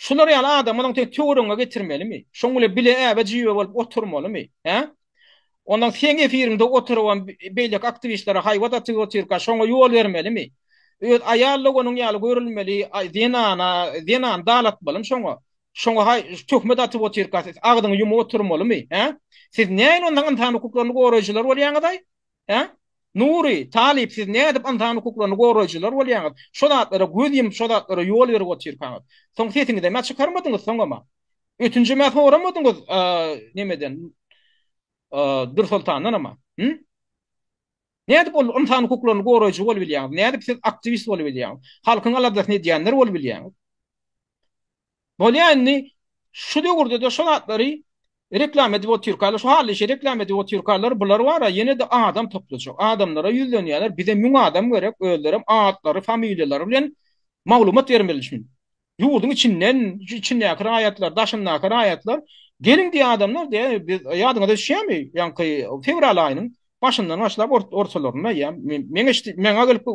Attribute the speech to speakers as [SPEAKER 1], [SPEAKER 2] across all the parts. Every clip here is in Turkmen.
[SPEAKER 1] Şular ýaly adamy onuň teň töweregiňe getirmelimi? Şoň bilen bile äbe jiýbe bolup oturmalymy? Hä? Ondan seň efiriňde oturybam beýleki aktiwistlere haýbat atyp otyrka şoňa ýol bermelimi? Öz aýal doganyň ýaly görülmeli zenana, zenany dalatmalymy şoňa? Şoňa haý töhmet atyp otyrka siz agzyňy ýumup oturmalymy? Hä? Siz näin ondan ynsan hukuklaryny goraýjylar bolýaňyzaý? Hä? Nury, Talyp siz nädip ynsan hukuklaryny goraýjylar bolýaňyz? Şo zatlara göz ýumup şo zatlara ýol berip otyrkaňyz. Soň sesiňizem-ä çykarmadyňyz soňam-a. Ötünjem-ä soramadyňyz nemeden Dürsoltandanam-a. Hü? Nädip ol ynsan hukuklaryny goraýjy bolup bilýäňiz? Nädip siz aktiwist bolup bilýäňiz? Halkyň aladasyny edýänler bolup bilýäňiz? Bolýa indi şu döwürdede şo zatlary reklama edip otyrkalar şu hally işe reklama edip otyrkalar bular bara ýenede adam toplajak adamlara ýüzlenýäler bize müň adam gerek özlerem atlary familiýalary bilen maglumat bermeli şun ýurduň içinden içindäki raýatlar daşyndaky raýatlar geliň diýýä adamlar diýýä biz ýadyňyza düşýämi ýaňky fewral aýynyň Başyndan başlap ortalarynda ýa meňe meňe gelip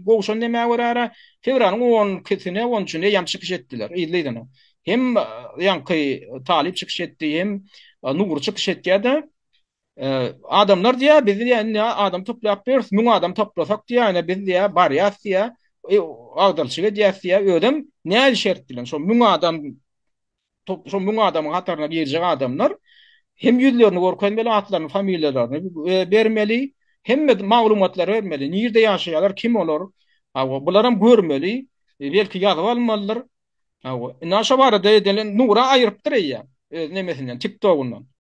[SPEAKER 1] gowşan demä görä fewralyň on ikisine on üçine ýam çykyş etdiler yzly-yzyna. Hem ýaňky talyp çykyş etdi hem Nury çykyş etýärdi. Adamlar diýýär biz diýýär indi adam toplap ýörüs müň adam toplasak diýýär ine biz diýýär barýas diýýär agdarçylyk edýäs diýýär özem nädip şert bilen şol müň adam Şo müň adamyň hataryna girjek adamlar hem ýüzlerini görkezmeli, atlaryny, familiýalaryny bermeli, hemme maglumatlary bermeli, nirde ýaşaýarlar, kim olar, hawa, bularam görmeli, belki ýazyp almalydyr. Hawa, indi şo barada edelen Nura aýyrypdyr eýýäm öz nemesinden, TikTok-yndan.